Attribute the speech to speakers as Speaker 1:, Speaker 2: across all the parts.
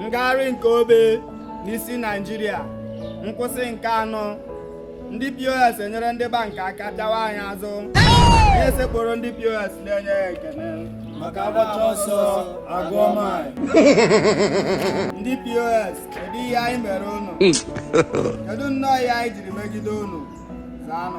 Speaker 1: ngagharị nke obe n'isi naijiria nkwụsị nke anọ ndị pos enyere ndị bank aka pịawa anyị azụ anyị esekpuru ndị pos na-enye ha ekene maka
Speaker 2: agbacha ọsọ agụọ maịl
Speaker 1: ndị pos kedu ihe anyị mere unu kedu nnọọ ihe anyị jiri megide unu zaanụ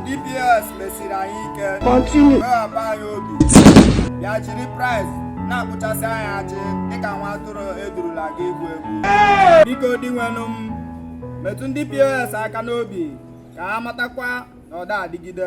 Speaker 1: ndị POS mesiri anyị ike wewaba anyị obi bịa jiri praịs na-akpụchasị anyị ajị dịka nwa atụrụ edurula ga igbu egbu biko dinwenụ m metụ ndị POS aka n'obi ka ha matakwa na ọ da adịgide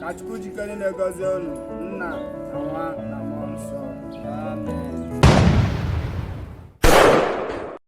Speaker 1: ka Chukwu ji ike nile gọzie unu nna na nwa na mmụọ nsọ